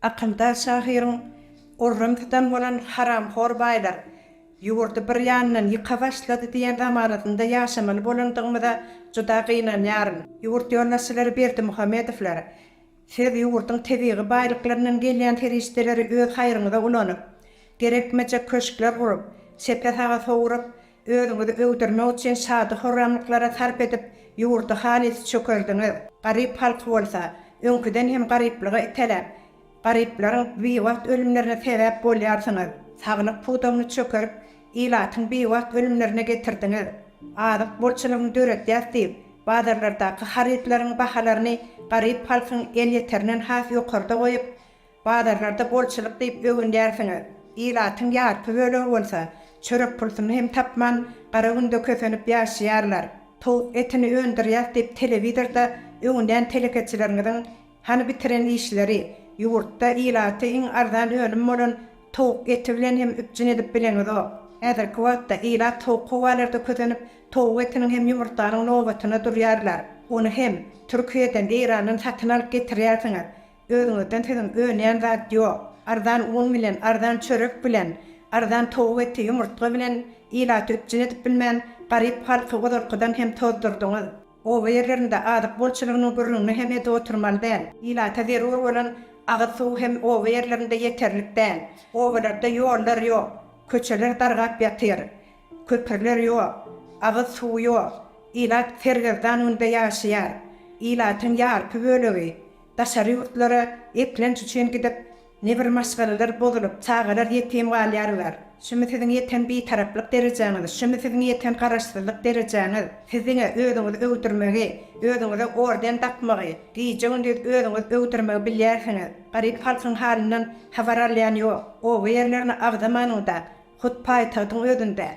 Akyldaş şahyryň Gurrym tutan bolan haramhor baýlar ýurdy bir ýandan ýyka başlady diýen zamanasynda ýaşamaly bolandygymyza juda gynanýaryn. Ýurt ýolbaşçylary Berdimuhamedowlar, Siz ýurduň tebigy baýlyklaryndan gelýän serişdeleri öz haýryňyza ulanyp, gerekmejek köşkler gurup, çepe-saga sowrup, özüňizi öwdürmek üçin şady-horramlyklara sarp edip, ýurdy halys çökerdiňiz. Garyp halky bolsa, öňküden hem garyplyga iteläp, garyplaryň biwagt ölümlerine sebäp bolýarsyňyz. Saglyk pudagyny çökerip, Ilatyň biwagt ölümlerine getirdiňiz. Azyk bolçulygyny döredýäs diýip, bazarlardaky harytlaryň bahalaryny garyp halkyň elýeterinden has ýokarda goýup, bazarlarda bolçulyk diýip öwünýärsiňiz. Ilatyň ýarpy bölegi bolsa, çörek pulsuny hem tapman, gara günde kösenip ýaşaýarlar. Towuk etini öndürýäs diýip telewizorda öwünýän telekeçileriňiziň Hany bitiren işleri? Ýurtda ilaty iň arzan önüm bolan towuk eti bilen hem üpjün edip bileňizok. Häzirki wagtda ilat sowuk howalarda kösenip, towuk etiniň hem ýumurtganyň nobatyna durýarlar. Ony hem Türkiýeden, Eýrandan satyn alyp getirýärsiňiz. Özüňizden siziň önýän zat ýok. Arzan un bilen, arzan çörek bilen, arzan towuk eti, ýumurtga bilen ilaty üpjün edip bilmän, garyp halky ozalkydan hem tozdurdyňyz. Oba ýerlerinde azyk bolçulygynyň gürrüňini hem edip oturmaly däl. Ilata zerur bolan agyz suw hem oba ýerlerinde ýeterlik däl. Obalarda ýollar ýok, köçeler dargap ýatyr, köprüler ýok, agyz suwy ýok. Ilat sergezdan günde ýaşaýar. Ilatyň ýarpy bölegi daşary ýurtlara eklenç üçin gidip, Nebir maşgalalar bozulyp, çagalar ýetim galýarlar. Şumy siziň ýeten bitaraplyk derejäňiz, şumy siziň ýeten garaşsyzlyk derejäňiz. Siziňä özüňizi öwdürmegi, özüňize orden dakmagy, gije-gündiz özüňiz öwdürmegi bilýärsiňiz. Garyp halkyň halyndan habar alýan ýok. Oba ýerlerini agzamanyňda, hut paýtagtyň özünde.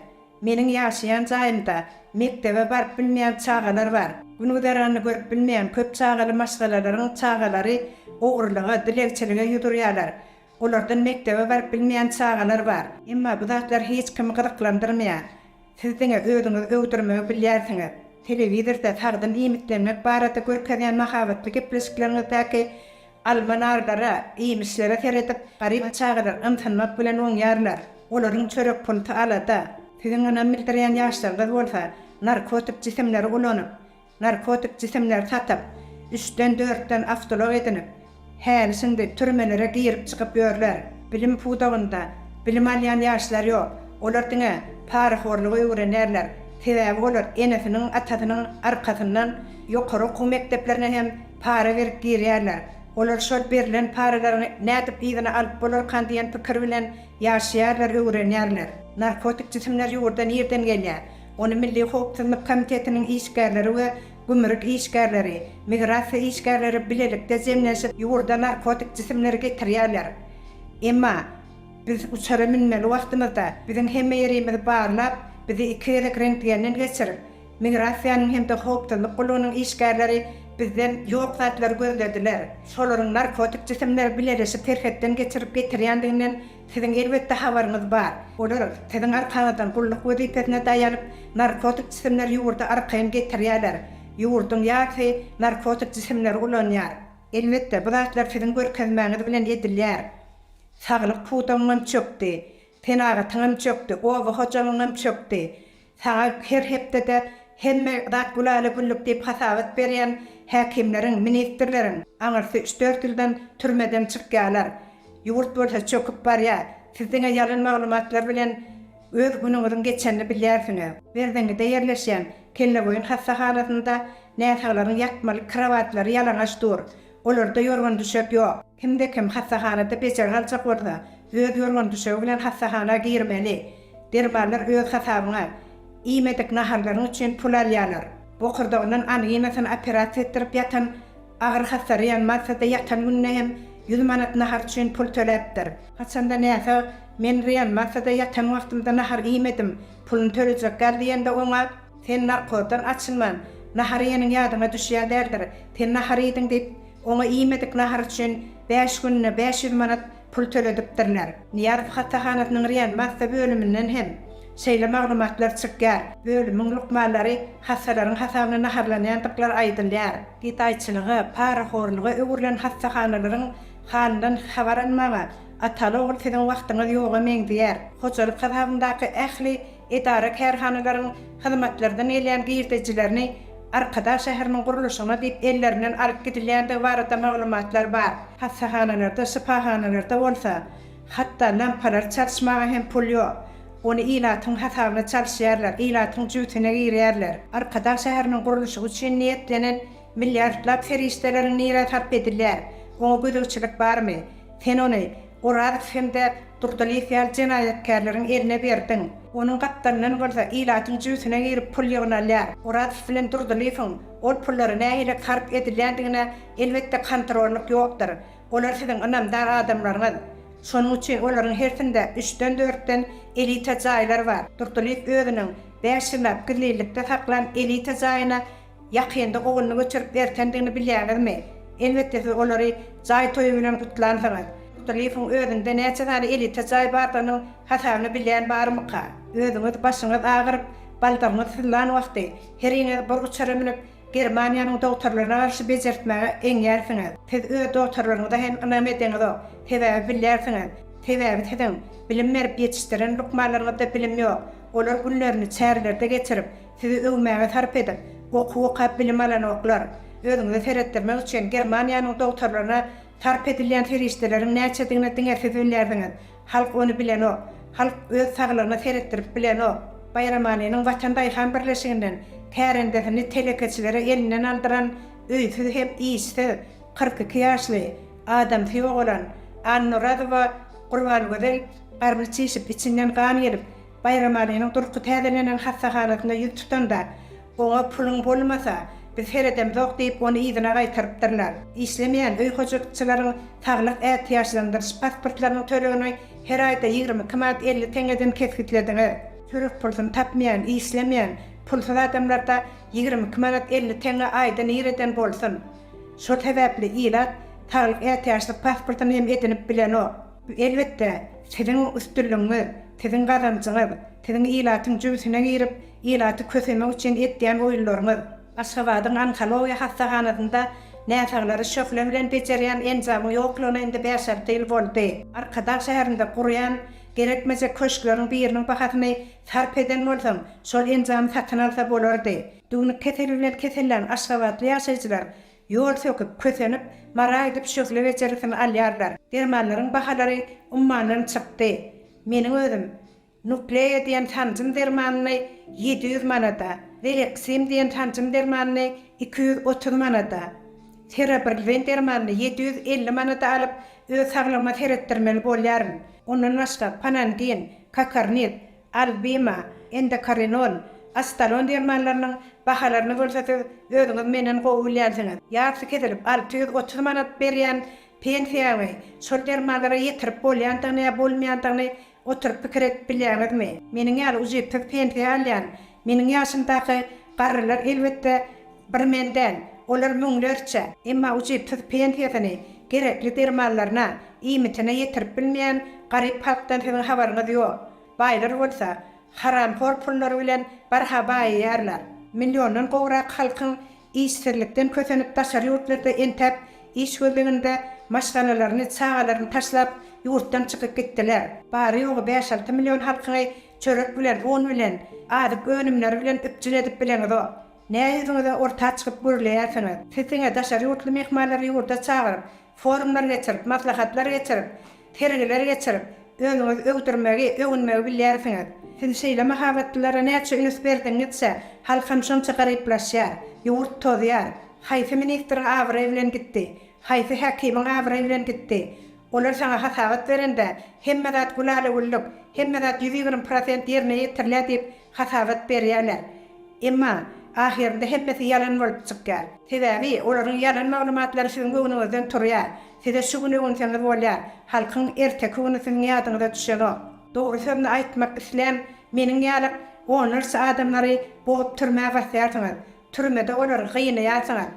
Meniň ýaşaýan jaýymda mekdebe baryp bilmeýän çagalar bar. Gün-güzeranyny görüp bilmeýän köp çagaly maşgalalaryň çagalary ogrulyga, dilegçilige ýüz urýarlar. Olardan mekdebe baryp bilmeýän çagalar bar. Emma bu zatlar hiç kimi gyzyklandyrmaýar. Siz diňe özüňizi öwdürmegi bilýärsiňiz. Telewizorda sagdyn iýmitlenmek barada görkezýän mahabatly gepleşikleriňizdäki Alma-narlara, iýmişlere seredip, garyp çagalar ymsynmak bilen oňýarlar. Olaryň çörek pulty alada. Siziň ynam bildirýän ýaşlaryňyz bolsa narkotik jisimleri ulanyp, narkotik jisimleri satyp, üçden, dörtden awtoulag edinip, häli-şindi türmelere girip-çykyp ýörler. Bilim pudagynda bilim alýan ýaşlar ýok. Olar diňe parahorlugy öwrenýärler. Sebäbi olar enesiniň, atasynyň arkasyndan ýokary okuw mekdeplerine hem, Para berip girýärler. Olar şol berlen paralary nädip yzyna alyp bolarkan diýen pikir bilen ýaşaýarlar, öwrenýärler. Narkotik jisimler ýurda nirden gelýär? Ony Milli howpsuzlyk komitetiniň işgärleri we gümrük işgärleri, migrasiýa işgärleri bilelikde jemlenşip ýurda narkotik jisimleri getirýärler. Emma biz uçara münmeli wagtymyzda biziň hemme ýerimizi barlap, bizi iki gezek rentgenden geçirip, Migrasiýanyň hem-de howpsuzlyk gullugynyň işgärleri bizden ýok zatlary gözlediler. Şolaryň narkotik jisimleri bileleşip serhetden geçirip getirýändiginden siziň elbetde habaryňyz bar. Olar siziň arkaňyzdan gulluk wezipesine daýanyp, narkotik jisimleri ýurda arkaýyn getirýärler. Ýurduň ýarysy narkotik jisimleri ulanýar. Elbetde, bu zatlar siziň görkezmäňiz bilen edilýär. Saglyk pudagyňam çökdi. Senagatyňam çökdi, oba hojalygyňam çökdi. Saňa her hepdede hemme zat gülala-güllük diýip hasabat berýän häkimleriň, ministrleriň aňyrsy üç-dört ýyldan türmeden çykýarlar. Ýurt bolsa çöküp barýar. Siz diňe ýalan maglumatlar bilen öz günüňiziň geçenini bilýärsiňiz. Berzeňňide ýerleşýän Kelleboýun hassahanasynda näsaglaryň ýatmalyk krowatlary ýalaňaç dur. Olarda ýorgan-düşek ýok. Kimde-kim hassahanada bejergi aljak bolsa, öz ýorgan-düşegi bilen hassahana girmeli. Dermanlar öz hasabyňa. Iýmedik naharlaryň üçin pul alýarlar. Bokurdagyndan anginasyny operasiýa etdirip ýatan, agyr hassaraýan Maltada ýatan gününe hem ýüz manat nahar üçin pul töläpdir. Haçanda näsag, Men reanimasýada ýatan wagtymda nahar iýmedim, puluny tölejek gal diýende oňa. Sen narkozdan açylman, nahar iýeniň ýadyňa düşýän däldir. Sen nahar iýdiň diýip, oňa iýmedik nahar üçin bäş gününe bäş ýüz manat pul töledipdirler. Nyýazow hassahanasynyň reanimasiýa bölüminden hem şeýle maglumatlar çykýar. Bölümiň lukmanlary hassalaryň hasabyna naharlanýandyklary aýdylýar. Gedaýçylyga, parahorluga öwrülen hassahanalaryň halyndan habar almaga, ataly-ogul siziň wagtyňyz ýoga meňzeýär. Hojalyk hasabyndaky ähli edara-kärhanalaryň hyzmatlardan gelýän girdejilerini Arkadag şäheriniň gurluşygyna diýip ellerinden alyp gidilýändigi barada maglumatlar bar. Hassahanalarda, şypahanalarda bolsa, hatda lampalary çalyşmaga hem pul ýok. Ony ilatyň hasabyna çalyşýarlar, ilatyň jübüsine girýärler. Arkadag şäheriniň gurluşygy üçin niýetlenen milliardlap serişdeleriň nirä sarp edilýär? Oňa gözegçilik barmy? Sen ony Orazow hem-de Durdylyýew ýaly jenaýatkärleriň eline berdiň. Onuň gapdalyndan bolsa ilatyň jübüsine girip pul ýygnalýar. Orazow bilen Durdylyýewiň ol pullary nähili sarp edilýändigine elbetde kontrollyk ýokdur. Olar siziň ynamdar adamlaryňyz. Şonuň üçin olaryň hersinde üçden-dörtden elita jaýlar bar. Durdylyýew özüniň bäş ýyllap gizlinlikde saklan elita jaýyna Ýakynda ogluny göçürip ertendigini bilýäňizmi? Elbetde siz olary jaý toýy bilen gutlansyňyz. Kutulyýewiň özünde näçe sany elita jaý bardygynyň hasabyny bilýän barmyka? Özüňiz başyňyz agyryp, baldagyňyz syzlan wagty, heriňiz bir uçara münüp, Germaniýanyň dogtarlaryna garşy bejertmäge eňýärsiňiz. Siz öz dogtarlaryňyza hem ynam edeňizok. Sebäbi bilýärsiňiz. Sebäbi siziň bilim berip ýetişdiren lukmanlaryňyzda bilim ýok. Olar günlerini çärlerde geçirip, Sizi öwmäge sarp edip, okuw okap bilim alanoklar. Özüňize seretdirmek üçin Germaniýanyň dogtarlaryna sarp edilýän serişdeleriň näçedigine diňe siz bilýärsiňiz. Halk ony bilenok. Halk öz saglygyna seretdirip bilenok. Baýramalynyň Watan daýhan birleşiginden kärendesini telekeçilere elinden aldyran öýsüz hem işsiz, kyrk iki ýaşly, adamsy ýogalan Annorazowa Gurbangözel garny çişip, içinden gan gelip, Baýramalynyň durky täzelenen hassahanasynda ýüz tutanda, Oňa puluň bolmasa, biz seredemzok diýip, ony yzyna gaýtarypdyrlar. Işlemeýän öý hojalykçylaryň saglyk ätiýaçlandyryş pasportlarynyň tölegini her aýda ýigrimi iki manat elli teňňeden kesgitlediňiz. Çörek pulsuny tapmaýan, işlemeýän, pulsuz adamlarda ýigrimi iki manat elli teňňe aýda nireden bolsun? Şol sebäpli ilat saglyk ätiýaçlyk pasportyny hem edinip bilenok. Elbetde, siziň üstünligiňiz, siziň gazanjyňyz, siziň ilatyň jübüsine girip, ilaty kösemek üçin etýän oýunlaryňyz, Aşgabadyň onkologiýa hassahanasynda näsaglary şöhle bilen bejerýän enjamyň ýoklugyna indi bäş-alty ýyl boldy. Arkadag şäherinde gurýan gerekmejek köşkleriň biriniň bahasyny sarp eden bolsaň, şol enjamy satyn alsa bolardy. Düwnük keseli bilen kesellän aşgabatly ýaşaýjylar Ýol söküp, kösenip, mara aýdyp şöhle bejergisini alýarlar. Dermanlaryň bahalary ummandan çykdy. Meniň özüm Nukleýa diýen sanjym dermanyny ýedi ýüz manada, Veleksim diýen sanjym dermanyny iki ýüz otuz manada, Serabirlzin dermanyny ýedi ýüz elli manada alyp, öz saglygyma seretdirmeli bolýaryn. Ondan başga Panangin, Kakarniz, Albima, Endokarinon, Astalon dermanlarynyň bahalaryny bolsa siz özüňiz menden gowy bilýänsiňiz. Ýarysy kesilip alty ýüz otuz manat berýän pensiýaňy şol dermanlara ýetirip bolýandygyny ýa bolmaýandygyny oturyp pikir edip bilýäňizmi? Meniň ýaly ujypsyz pensiýa alýan Meniň ýaşymdaky garrylar elbetde bir men däl, olar müňlerçe, emma ujypsyz pensiýasyny gerekli dermanlaryna, iýmitine ýetirip bilmeýän garyp halkdan siziň habaryňyz ýok. Baýlar bolsa, haramhor pullary bilen barha baýaýarlar. Milliondan gowrak halkyň işsizlikden kösenip daşary ýurtlarda entäp iş gözleginde maşgalalaryny, çagalaryny taşlap ýurtdan çykyp gitdiler. Bary-ýogy bäş-alty million halkyňy Çörek bilen, un bilen, azyk önümleri bilen üpjün edip bileňizok. Nä ýüzüňize orta çykyp gürleýärsiňiz? Siz diňe daşary ýurtly myhmanlary ýurda çagyryp, forumlar geçirip, maslahatlar geçirip, sergiler geçirip, özüňizi öwdürmegi, öwünmegi bilýärsiňiz. Siz şeýle mahabatlylara näçe üns berdigiňizçe, halkam şonça garyplaşýar. Ýurt tozýar. Haýsy ministriň abraýy bilen gitdi? Haýsy häkimiň abraýy bilen gitdi? Olar saňa hasabat berende, Hemme zat gülala-güllük, hemme zat ýüz ýigrimi prosent ýerine ýetirilýär diýip hasabat berýärler. Emma, ahyrynda hemmesi ýalan bolup çykýar. Sebäbi, olaryň ýalan maglumatlary siziň göwnüňizden turýar. Size şu gün öwünseňiz bolýar, halkyň erteki güni siziň ýadyňyza düşenok. Dogry sözüni aýtmak islän meniň ýaly onlarça adamlary bogup türmä basýarsyňyz, türmede olary gynaýarsyňyz.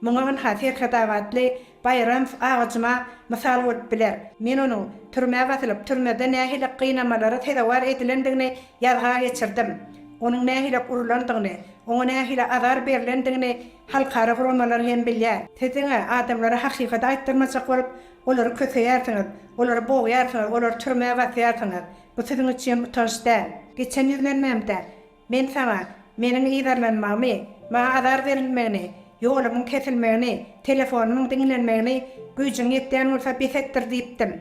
Muňa ynha Serhetabatly Baýramow agajyma mysal bolup biler. Men onuň türmä basylyp, türmede nähili gynamalara sezewar edilendigini ýazga geçirdim. Onuň nähili urlandygyny, oňa nähili azar berlendigini halkara guramalar hem bilýär. Siz diňe adamlara hakykady aýtdyrmajak bolup, olary köseýärsiňiz, olary bogýarsyňyz, olary türmä basýarsyňyz. Bu siziň üçin utanç däl. Geçen ýüzlenmämde Men saňa, Meniň yzarlanmagymy, Maňa azar berilmegini, ýolumyň kesilmegini, telefonymyň diňlenmegini güýjüň ýetýän bolsa bes etdir diýipdim.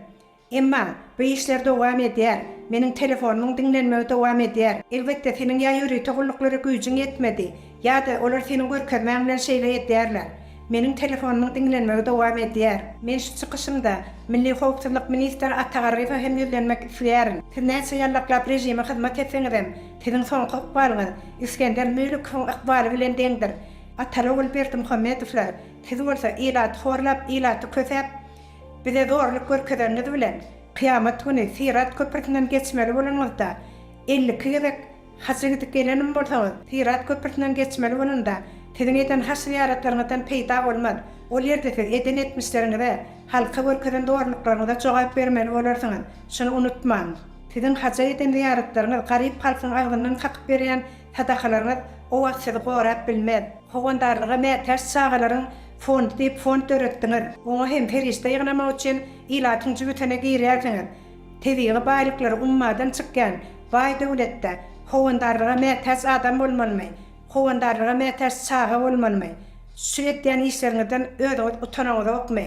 Emma, bu işler dowam edýär, meniň telefonymyň diňlenmegi dowam edýär. Elbetde, seniň ýa ýörite gulluklary güýjüň ýetmedi, ýa-da olar seniň görkezmäň bilen şeýle edýärler. Meniň telefonymyň diňlenmegi dowam edýär. Men şu çykyşymda Milli howpsuzlyk ministri Ata Garryýewe hem ýüzlenmek isleýärin. Siz näçe ýallaklap režime hyzmat etseňizem, siziň soňky ykbalyňyz Isgender Müllikowyň ykbaly bilen deňdir. Ataly-ogul Berdimuhamedowlar, siz bolsa ilaty horlap, ilaty kösäp, bize zorluk görkezeniňiz bilen, kyýamat güni Syrat köprüsinden geçmeli bolanyňyzda, elli iki gezek Haja gidip gelenim bolsaňyz, Syrat köprüsinden geçmeli bolanda, siziň eden haş-zyýaratlaryňyzdan peýda bolmaz. Ol ýerde siz eden etmişleriňize, halka görkezen zorluklaryňyza jogap bermeli bolarsyňyz. Şuny unutmaň. Siziň haja eden zyýaratlaryňyz, garyp halkyň agzyndan kakyp berýän sadakalaryňyz o wagt sizi gorap bilmez. Howandarlyga mätäç çagalaryň fondy diýip fond döretdiňiz. Oňa hem serişde ýygnamak üçin ilatyň jübütine girýärsiňiz. Tebigy baýlyklary ummadan çykýan baý döwletde howandarlyga mätäç adam bolmalymy, howandarlyga mätäç çaga bolmalymy? Şu edýän işleriňizden özüňiz utanaňyzokmy?